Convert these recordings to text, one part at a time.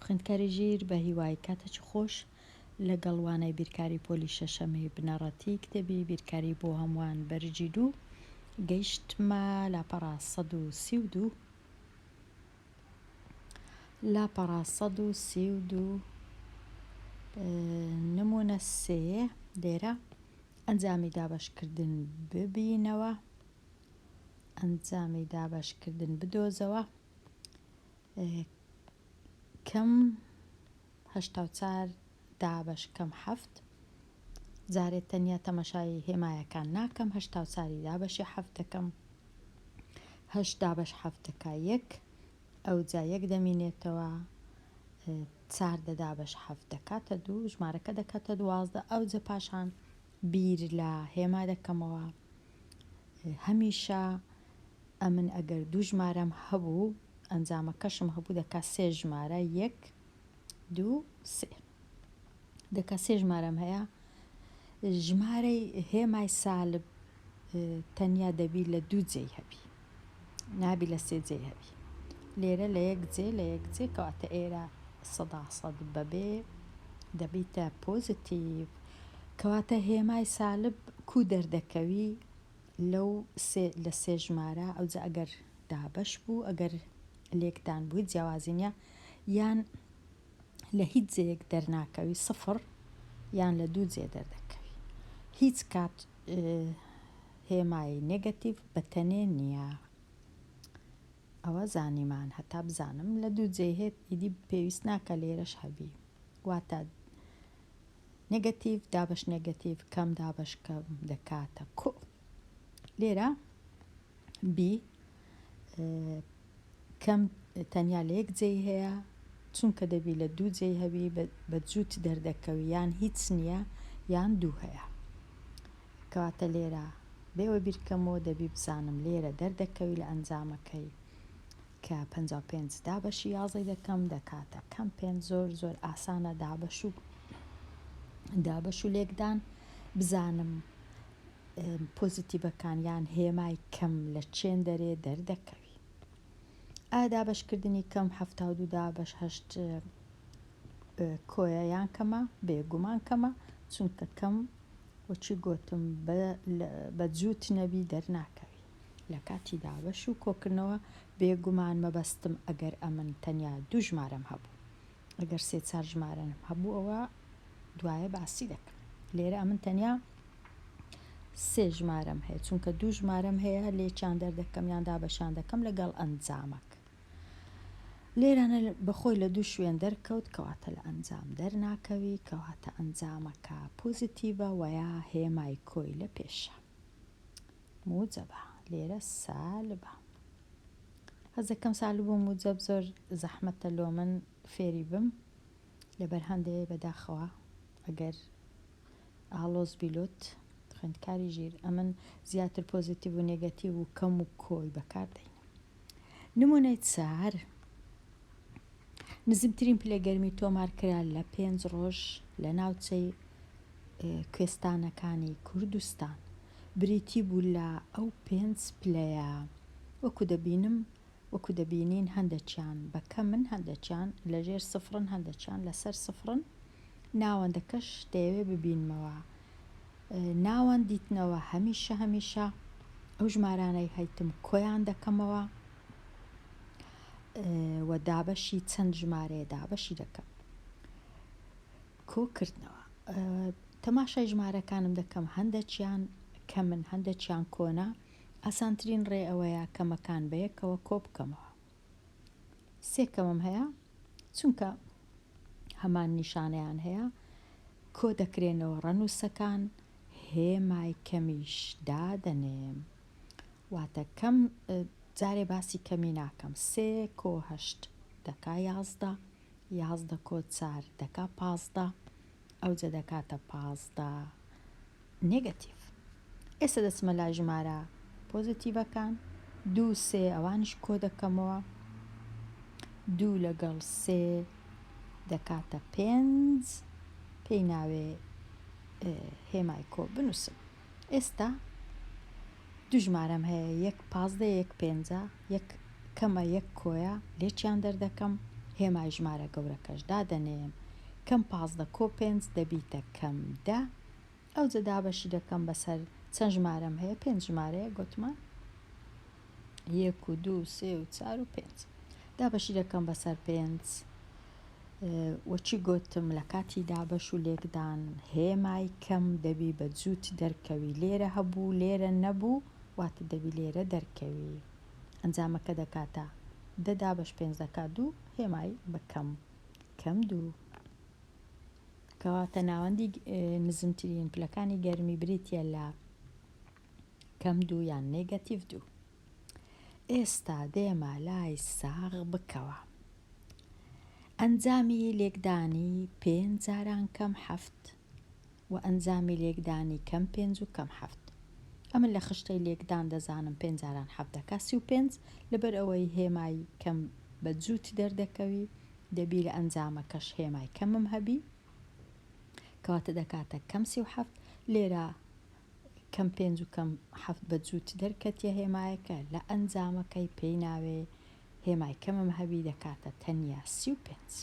خوێندکاری ژیر بە هیوای کاتەچ خۆش لەگەڵ وانای بیرکاری پۆلی شەشەمی بنەڕەتی کتێبی بیرکاری بۆ هەمووان بەرجی دوو گەیشتمە لاپەڕە سەد و سی و دوو لاپەڕە سەد و سی و دوو نمونە سێ لێرە ئەنجامی دابەشکردن ببینەوە ئەنجامی دابەشکردن بدۆزەوە کەم هەشتا و چار دابەش کەم حەفت جارێ تەنیا تەمەشای هێمایەکان ناکەم هەشتا و چاری دابەشی حەفت دەکەم هەشت دابەش حەفت دەکا یەک ئەوجا یەک دەمینێتەوە چار دە دابەش حەفت دەکاتە دوو ژمارەکە دەکاتە دوازدە ئەوجە پاشان بیر لە هێما دەکەمەوە هەمیشە ئەمن ئەگەر دوو ژمارەم هەبوو ئەنجامەکەشم هەبوو دەکا سێ ژمارە یەک دوو سێ دەکە سێ ژمارەم هەیە ژمارەی هێمای سالب تەنیا دەبی لە دوو جێی هەبی نابی لە سێ جێی هەبی لێرە لە یەک جێ لە یەک جێ کەواتە ئێرە سەدا سەد بەبێ دەبیتە پۆزتیڤ کەواتە هێمای سالب کو دەردەکەوی لەو لە سێ ژمارە ئەوجا ئەگەر دابش بوو ئەگەر لێکدان بووی جیاوازی نیە یان لە هیچ جێیەک دەرناکەوی سفر یان لە دوو جێ دەردەکەوی هیچ کات هێمای نگەتیڤ بە تەنێ نییە ئەوە زانیمان هەتا بزانم لە دوو جێ هێت ئیدی پێویست ناکە لێرەش هەبی واتە نگەتیڤ دابش نگەتیڤ کەم دابش کەم دەکاتە کو لێرە بی کەم تەنیا لە یەک جێی هەیە چونکە دەبی لە دوو جێی هەبی بە جووت دەردەکەوی یان هیچ نییە یان دوو هەیە کەواتە لێرە بێوە بیرکەمەوە دەبی بزانم لێرە دەردەکەوی لە ئەنجامەکەی کە پ پێنج دابەشی یازەی دەکەم دەکاتە کەم پێنج زۆر زۆر ئاسانە دابەش و دابەش و لێکدان بزانم پۆزیتیڤەکان یان هێمای کەم لە چێندەرێ دەردەکەوی ئایا دابەشکردنی کەم هەفتا و دوو دابەش هەشت کۆیە یان کەمە بێگومان کەمە چونکە کەم وەچی گوتم بە جووت نەبی دەرناکەوی لە کاتی دابەش و کۆکردنەوە بێگومان مەبەستم ئەگەر ئەمن تەنیا دوژمارەم هەبوو ئەگەر سێ چار ژمارەن هەبوو ئەوە دوایە باسی دەکەم لێرە ئەمن تەنیا سێ ژمارەم هەیە چونکە دوو ژمارەم هەیە لێچان دەردەکەم یان دابەشان دەکەم لەگەڵ ئەنجامەک لێرانە بەخۆی لە دوو شوێن دەرکەوت کەواتە لە ئەنجام دەرناکەوی کەواتە ئەنجامەکە پۆزیتیڤە وەیا هێمای کۆی لە پێشە موجەبە لێرە سالبە هەزدەکەم سال بووم و جەب زۆر زەحمەتە لۆمن فێری بم لەبەر هەندێ بەداخەوە ئەگەر ئاڵۆز بی لۆت خوێندکاری ژیر ئەمن زیاتر پۆزیتیڤ و نێگەتیڤ و کەم و کۆی بەکار دەینم نمونەی چار نزمترین پلەی گەرمی تۆمارکرا لە پێنج ڕۆژ لە ناوچەی کوێستانەکانی کوردستان بریتی بوو لە ئەو پێنج پلەیە وەکو دەبینم وەکو دەبینین هەندەکیان بە کەمن هەندەکیان لە ژێر سفرن هەندەکیان لەسەر سفرن ناوەندەکەش دەیەوێ ببینمەوە ناوەند دیتنەوە هەمیشە هەمیشە ئەو ژمارانەی هەیتم کۆیان دەکەمەوە و دابەشی چەند ژمارەیە دابەشی دەکەم کۆکردنەوە تەماشای ژمارەکانم دەکەم هەندەچیان کە من هەندەچیان کۆنا ئاسانترین ڕێ ئەوەیە کەمەکان بەیەکەوە کۆ بکەمەوە سێکەمم هەیە چونکە هەمان نیشانیان هەیە کۆ دەکرێنەوە ڕەنووسەکان هێمای کەمیش دادەنێم واتە کەم جارێ باسی کەمی ناکەم سێ کۆ هەشت دەکا یازدە یازدە کۆ چار دەکا پازدە ئەوجە دەکاتە پازدە نێگەتیڤ ئێستا دەچمە لای ژمارە پۆزتیڤەکان دوو سێ ئەوانش کۆ دەکەمەوە دوو لەگەڵ سێ دەکاتە پێنج پێی ناوێ هێمای کۆ بنووسم ئێستا دوو ژمارەم هەیە یەک پازدە یەک پێنجە یەک کەمە یەک کۆیە لێکیان دەردەکەم هێمای ژمارە گەورەکەش دادەنێم کەم پازدە کۆ پێنج دەبیتە کەم دە ئەوجە دابەشی دەکەم بەسەر چەند ژمارەم هەیە پێنج ژمارەیە گوتمان یەک و دوو سێ و چار و پێنج دابەشی دەکەم بەسەر پێنج وەچی گۆتم لە کاتی دابەش و لێکدان هێمای کەم دەبی بە جووت دەرکەوی لێرە هەبوو لێرە نەبوو واتە دەبی لێرە دەرکەوی ئەنجامەکە دەکاتە دە دابەش پێنج دەکات دوو هێمای بە کەم کەم دوو کەواتە ناوەندی نزمترین پلەکانی گەرمی بریتە لە کەم دوو یان نێگەتیڤ دوو ئێستا دێمە لای ساغ بکەوە ئەنجامی لێکدانی پێنج جاران کەم حەفت و ئەنجامی لێکدانی کەم پێنج و کەم حەفت ئەمن لە خشتەی لێکدان دەزانم پێنج جاران حەفت دەکا سی و پێنج لەبەر ئەوەی هێمای کەم بە جووت دەردەکەوی دەبی لە ئەنجامەکەش هێمای کەمم هەبی کەواتە دەکاتە کەم سی و حەفت لێرە کەم پێنج و کەم حەفت بە جووت دەرکەتیە هێمایەکە لە ئەنجامەکەی پێی ناوێ هێمای کەمم هەبی دەکاتە تەنیا سی و پێنج.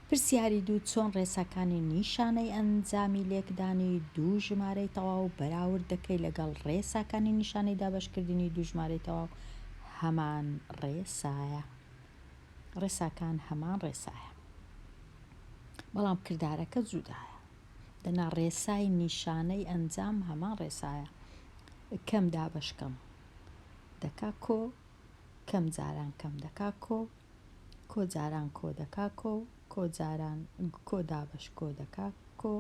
پرسیاری دوو چۆن ڕێساکانی نیشانەی ئەنجامی لێکدانی دوو ژمارەی تەواو بەراورد دەکەی لەگەڵ ڕێساکانی نیشانەی دابەشکردنی دوو ژمارەی تەواو هەمان ڕێسایە ڕێساکان هەمان ڕێسایە بەڵام کردارەکە جودایە. دەنا ڕێسای نیشانەی ئەنجام هەمان ڕێسایە کەم دابەش کەم دەکا کۆ کەم جاران کەم دەکا کۆ کۆ جاران کۆ دەکا کۆ کۆ جاران کۆ دابەش کۆ دەکا کۆ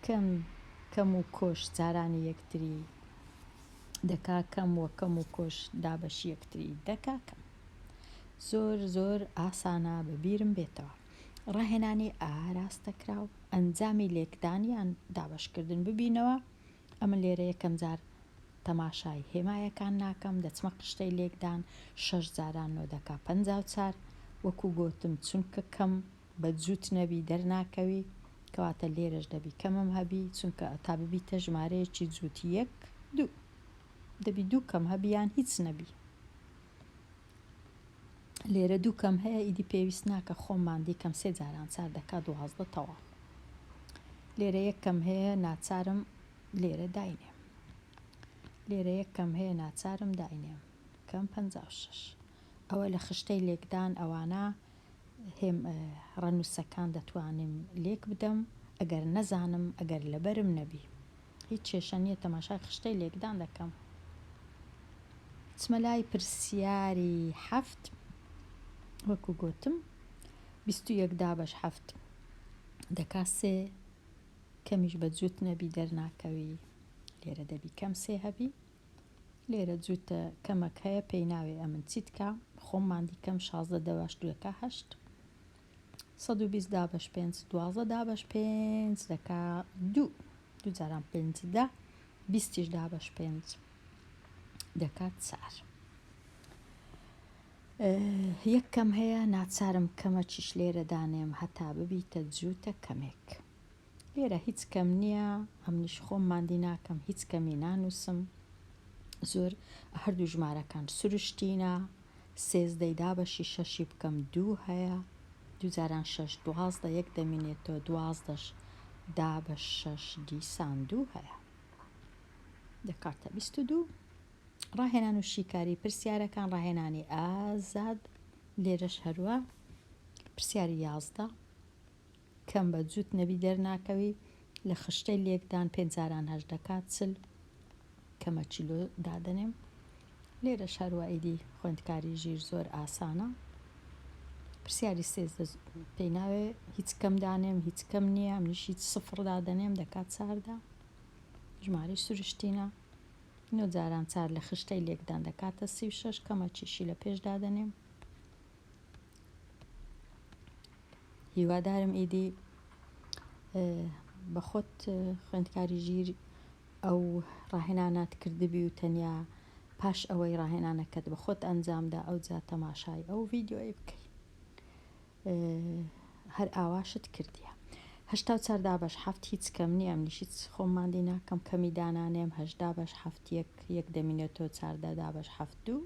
کەم کەم و کۆش جارانی یەکتری دەکا کەم وە کەم و کۆش دابەش یەکتری دەکا کەم زۆر زۆر ئاسانە بە بیرم بێتەوە ڕاهێنانی ئاراستەکراو، ئەنجامی لێکدان یان دابەشکردن ببینەوە، ئەمن لێرە یەکەم جار تەماشای هێمایەکان ناکەم، دەچمە قشتەی لێکدان، شەش جاران نۆ دەکا پەنجا و چار، وەکوو گۆتم چونکە کەم بە جووت نەبی دەرناکەوی، کەواتە لێرەش دەبی کەمم هەبی، چونکە تا ببیتە ژمارەیەکی جووت یەک، دوو. دەبی دوو کەم هەبی یان هیچ نەبی. لێرە دوو کەم هەیە ئیدی پێویست ناکە خۆم ماندی کەم سێ جاران چار دەکا دوازدە تەواو لێرە یەک کەم هەیە ناچارم لێرە داینێم لێرە یەک کەم هەیە ناچارم داینێم کەم پ شش ئەوە لە خشتەی لێکدان ئەوانە هێم ڕەنووسەکان دەتوانم لێک بدەم ئەگەر نەزانم ئەگەر لەبەرم نەبی هیچ کێشە نیە تەماشای خشتەی لێکدان دەکەم. چمە لای پرسیاری حەفت وەکو گۆتم بیست و یەک دابەش حەفت دەکا سێ کەمیش بە جوت نەبی دەرناکەوی لێرە دەبی کەم سێ هەبی لێرە جوتە کەمەک هەیە پێی ناوێ ئەمن چیتکا خۆم ماندی کەم شازدە دەباش دوەکا هەشت سەد و بیست دابەش پێنج دوازە دابەش پێنج دەکا دوو دوو جاران پێنج دە بیستیش دابەش پێنج دەکات چار یەک کەم هەیە ناچارم کەمەکیش لێرە دانێم هەتا ببیتە جووتە کەمێک لێرە هیچ کەم نییە ئەمنیش خۆم مادی ناکەم هیچ کەمی نانووسم زۆر هەردوو ژمارەکان سروشتینە سێزدەی دا بەشی شەشی بکەم دوو هەیە دوو جاران شەش دوازدە یەک دەمینێتەوە دوازدەش دا بە شەش دیسان دوو هەیە دەکاتە بیست و دوو ڕاهێنان و شیکاری پرسیارەکان ڕاهێنانی ئازاد لێرەش هەروە پرسیاری یازدە کەم بە جوت نەبی دەرناکەوی لە خشتەی لێکدان پێنج جاران هەشت دەکات چل کەمە چیلۆ دادەنێم لێرەش هەروە ئیدی خوێندکاری ژیر زۆر ئاسانە پرسیاری سێزدە پێی ناوێ هیچ کەم دانێم هیچ کەم نییە منیش هیچ سفڕ دادەنێم دەکات چاردا ژماری سروشتینە نۆ جاران چار لە خشتەی لێکدان دەکاتە سی و شەش کەمە چیشی لە پێش دادەنێم هیوادارم ئیدی بە خۆت خوێندکاری ژیر ئەو ڕاهێنانات کردبی و تەنیا پاش ئەوەی ڕاهێنانەکەت بە خۆت ئەنجامدا ئەو جا تەماشای ئەو ڤیددیۆی بکەی هەر ئاواشت کردیە هشتا چار دابش هەفت هیچ کەم نییە منیش هیچ خۆماندی ناکەم کەمی دانانێم هەشدا بەش هەفت یەک یەک دەمینێتەوە چاردە دابش هەفت دوو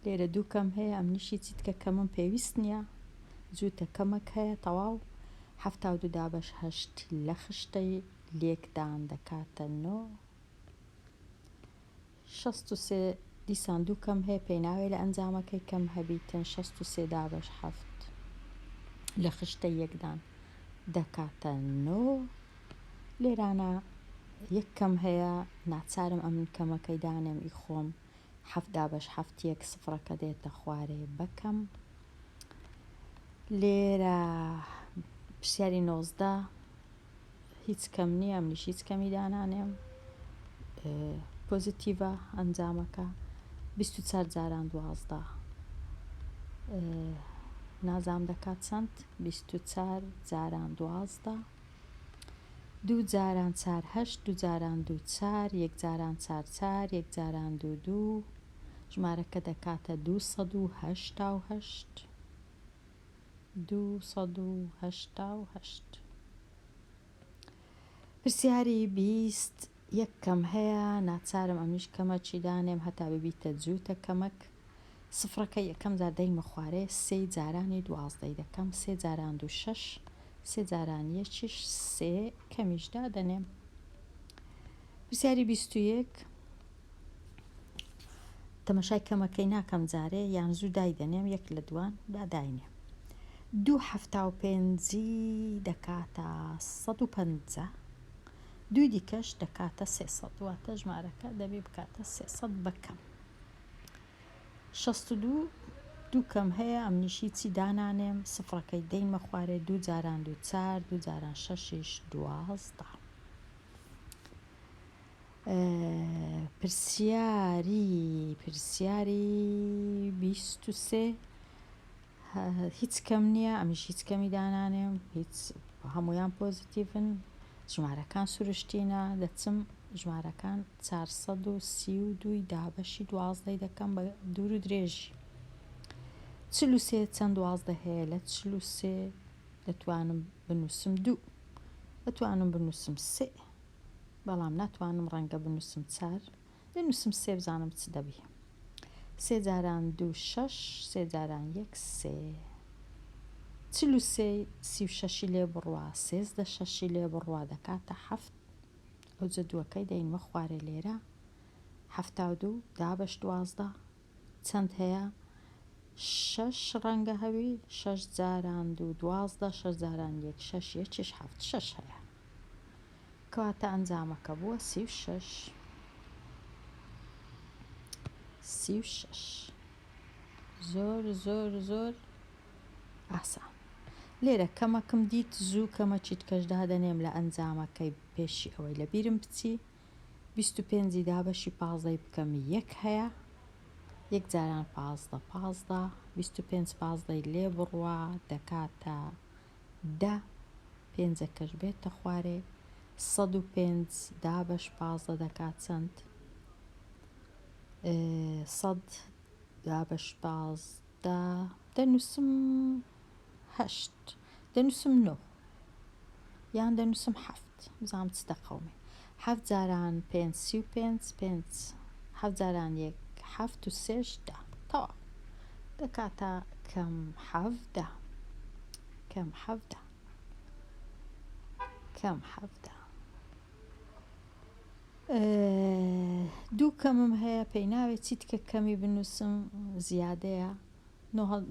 لێرە دوو کەم هەیە ئەمنیشی چیتکە کەمم پێویست نییە جووتە کەمەک هەیە تەواو حەفتا و دوو دابەش هەشت لە خشتەی لێکدان دەکاتە نۆ شەست و سێ دیسان دوو کەم هەیە پێناوێ لە ئەنجامەکەی کەم هەبیتن شەست و سێ دابەش حەفت لە خشتە یەکدان دەکاتە نۆ لێرانە یەک کەم هەیە ناچارم ئەمن کەمەکەی دانێم ئی خۆم حەفت دابەش حەفت یەک سفڕەکە دێتە خوارێ بەکەم لێرە پرسیاری نۆزدە هیچ کەم نییە منیش هیچ کەمی دانانێم پۆزیتیڤە ئەنجامەکە بیست و چار جاران دوازدە نازام دەکات چەند بیست و چار جاران دوازدە دوو جاران چار هەشت دوو جاران دوو چار یەک جاران چار چار یەک جاران دوو دوو ژمارەکە دەکاتە دوو سەد و هەشتا و هەشت دوو سەد و هەشتا و هەشت پرسیاری بیست یەک کەم هەیە ناچارم ئەمیش کەمە چی دانێم هەتا ببیتە جووتە کەمەک سفرەکە یەکەم جار دەیمە خوارێ سێی جارانی دوازدەی دەکەم سێ جاران دوو شەش سێ جاران یەکیش سێ کەمیش دادەنێم پرسیاری بیست و یەک تەمەشای کەمەکەی ناکەم جارێ یان زوو دایدەنێم یەک لە دوان با داینێ دوو حەفتا و پێنجی دەکاتە سەد و پەنجا دوی دیکەش دەکاتە سێسەد واتە ژمارەکە دەبێ بکاتە سێسەد بەکەم شەست و دوو دوو کەم هەیە ئەمنیش هیچی دانانێم سفڕەکەی دەیمە خوارێ دوو جاران دوو چار دوو جاران شەشیش دوازدە پرسیاری پرسیاری بیست و سێ هیچ کەم نییە ئەمیش هیچ کەمی دانانێم هیچ هەموویان پۆزیتیڤن ژمارەکان سروشتینە دەچم ژمارەکان چوار سەد و سی و دووی دابەشی دوازدەی دەکەم بە دوور و درێژی چل و سێ چەند دوازدە هەیە لە چل و سێ دەتوانم بنووسم دوو دەتوانم بنووسم سێ بەڵام ناتوانم ڕەنگە بنووسم چار بنووسم سێ بزانم چ دەبی سێ جاران دوو شەش سێ جاران یەک سێ چل و سێ سی و شەشی لێ بڕوا سێزدە شەشی لێ بڕوا دەکاتە حەفت ئەو جەدووەکەی دەینمە خوارێ لێرە حەفتا و دوو دابەش دوازدە چەند هەیە؟ شەش ڕەنگە هەوی شەش جاران دوو دوازدە شەش جاران یەک شەش یەکیش حەفت شەش هەیە کەواتە ئەنجامەکە بووە سی و شەش سی و شەش زۆر زۆر زۆر ئاسان لێرە کەمەکم دیت زوو کەمەچیت کەش دادەنێم لە ئەنجامەکەی پێشی ئەوەی لە بیرم بچی بیست و پێنجی دابەشی پازدەی بکەم یەک هەیە یەک جاران پازدە پازدە بیست و پێنج پازدەی لێ بڕوا دەکاتە دە پێنجەکەش بێتە خوارێ سەد و پێنج دابەش پازدە دەکات چەند سەد دابەش پازدە دەنووسم هەشت دەنووسم نۆ یان دەنووسم حەفت بزانم چ دەقەومێ حەفت جاران پێنج سی و پێنج پێنج حەفت جاران یەک حەفت و سێش دە تەواو دەکاتە کەم حەفدە کەم حەفدە کەم حەفدە دوو کەمم هەیە پێی ناوێت چیتکە کەمی بنووسم زیادەیە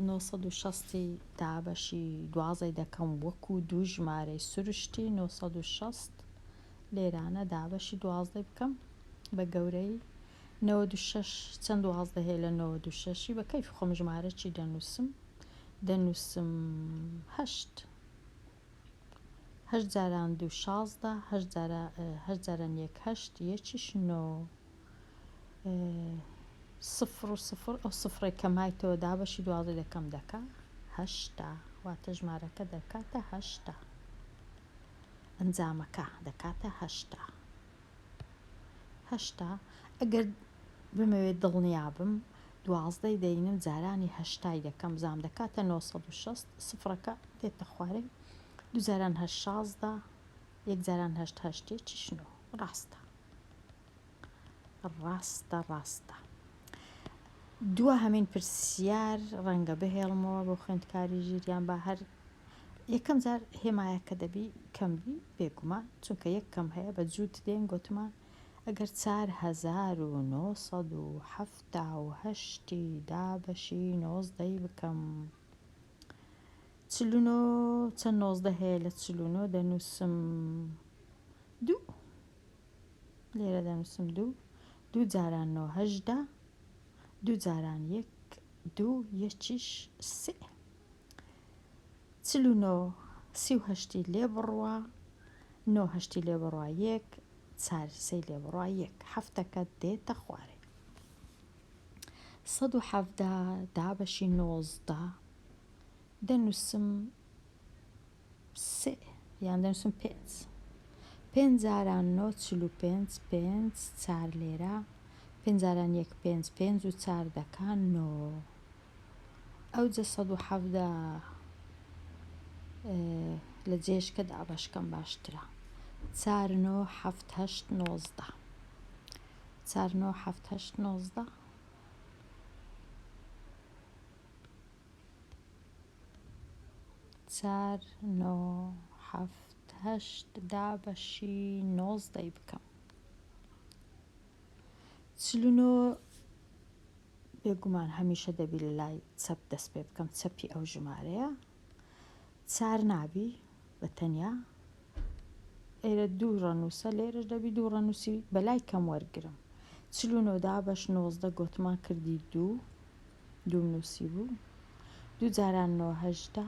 نۆ سەد و شەست ی دابەشی دوازەی دەکەم وەکو دوو ژمارەی سروشتی نۆ سەد و شەست لێرانە دابەشی دوازدەی بکەم بە گەورەی نەوەد و شەش چەند دوازدە هەیە لە نەوەد و شەشی بە کەیف خۆم ژمارە چی دەنووسم دەنووسم هەشت هەشت جاران دوو شازدە هەشت جارە هەشت جاران یەک هەشت یەکیش نۆ سفر و سفر ئەو سفرەی کە مایتەوە دابەشی دوازدە لەکەم دەکا هەشتا واتە ژمارەکە دەکاتە هەشتا ئەنجامەکە دەکاتە هەشتا هەشتا ئەگەر بمەوێت دڵنیا بم دوازدەی دەینم جارانی هەشتای دەکەم زام دەکاتە 960 سفرەکە دێتە خوارێ دوجاران هە شازدە یەکجاران هەشت هەشتێ چشنۆ ڕاستە ڕاستە ڕاستە دوا هەمین پرسیار ڕەنگە بهێڵمەوە بۆ خوێندکاری ژیریان با هەر یەکەم جار هێمایە کە دەبی کەم بی بێگومان چونکە یەک کەم هەیە بە جووت دێن گوتمان ئەگەر 4970 دابەشی نۆزدەی بکەم چلونۆ چەند نۆزدە هەیە لە چلونۆ دەنووسم دوو لێرە دەنووسم دوو دوو جاران نۆ هەژدە دوو جاران یەک دوو یەکیش سێ چل و نۆ سی و هەشتی لێ بڕوە نۆ هەشتی لێ بڕوە یەک چار سەی لێ بڕوە یەک هەفتەکە دێتە خوارێ سەد و حەفدا دابەشی نۆزدە دەنووسم سێ، یان دەنووسم پێنج. پێنج جاران نۆ چل و پێنج، پێنج چار لێرە، پێنج جاران یەک پێنج، پێنج و چار دەکا نۆ. ئەوجە سەد و حەڤدە لە جێشکە دابەشکەم باشترە. چار نۆ حەفت هەشت نۆزدە. چار نۆ حەفت هەشت نۆزدە. چار نۆ حەفت هەشت دا بەشی نۆزدەی بکەم چل و نۆ بێگومان هەمیشە دەبی لە لای چەپ دەست پێ بکەم چەپی ئەو ژمارەیە چار نابی بە تەنیا ئێرە دوو ڕەنووسە لێرەش دەبی دوو ڕەنووسی بەلای کەم وەرگرم چل و نۆ دابەش نۆزدە گۆتمان کردی دوو دوو نووسی بوو دوو جاران نۆ هەشتا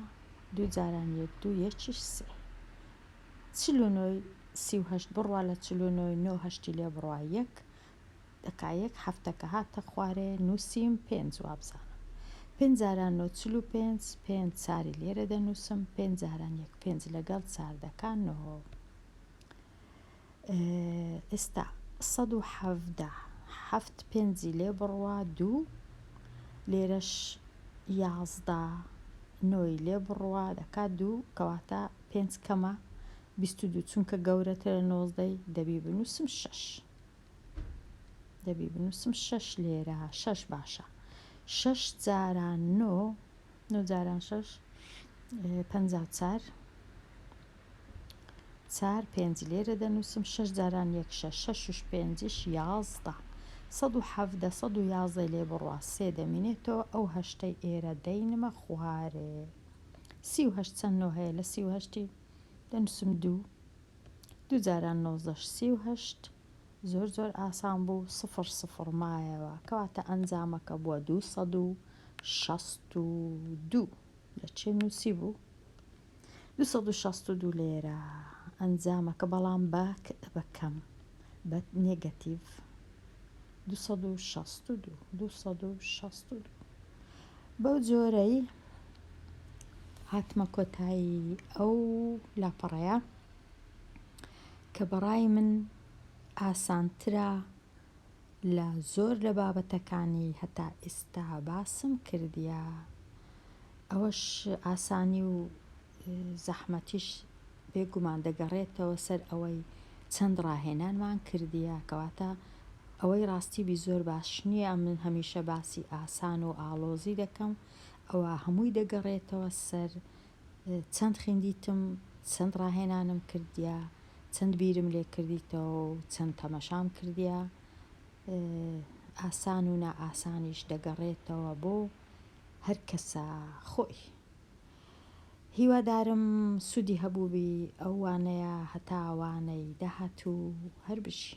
دوو جاران یەک دوو یەکیش سێ چل و نۆی سی و هەشت بڕوا لە چل و نۆی نۆ هەشتی لێ بڕوا یەک دەکا یەک حەفتە کە هاتە خوارێ نووسیم پێنج وابزانم پێنج جاران نۆ چل و پێنج پێنج چاری لێرە دەنووسم پێنج جاران یەک پێنج لەگەڵ چار دەکا نۆ ئێستا سەد و حەڤدە حەفت پێنجی لێ بڕوا دوو لێرەش یازدە نۆی لێ بڕوا دەکا دوو کەواتە پێنج کەمە بیست و دوو چونکە گەورەترە نۆزدەی دەبی بنووسم شەش دەبی بنووسم شەش لێرە شەش باشە شەش جاران نۆ نۆ جاران شەش پەنج و چار چار پێنج لێرە دەنووسم شەش جاران یەک شەش شەش شش پێنجش یازدە سەد و حەفدە سەد و یازدە لێ بڕوا سێ دەمینێتەوە ئەو هەشتەی ئێرە دەینمە خوارێ سی و هەشت چەند نۆ هەیە لە سی و هەشتی دەنووسم دوو دوو جاران نۆزدە سی و هەشت زۆر زۆر ئاسان بوو سفر سفر مایەوە کەواتە ئەنجامەکە بووە دوو سەد و شەست و دوو لە چێ نووسی بوو دوو سەد و شەست و دوو لێرە ئەنجامەکە بەڵام بە بەکەم بە نێگەتیڤ دوو سەد و شەست و دوو دوو سەد و شەست و دوو بەو جۆرەی هاتمە کۆتایی ئەو لاپەڕەیە کە بەڕای من ئاسانترە لە زۆر لە بابەتەکانی هەتا ئیستا باسم کردیە ئەوەش ئاسانی و زەحمەتیش بێ گومان دەگەڕێتەوە سەر ئەوەی چەند ڕاهێنانمان کردیە کەواتە ئەوەی ڕاستی بی زۆر باش نییە من هەمیشە باسی ئاسان و ئاڵۆزی دەکەم ئەوە هەمووی دەگەڕێتەوە سەر چەند خیندیتم چەند ڕاهێنانم کردیە چەند بیرم لێ کردیتەوە و چەند تەمەشام کردیە ئاسان و نائاسانیش دەگەڕێتەوە بۆ هەر کەسە خۆی. هیوادارم سودی هەبووبی ئەو وانەیە هەتا وانەی داهاتوو هەر بژی.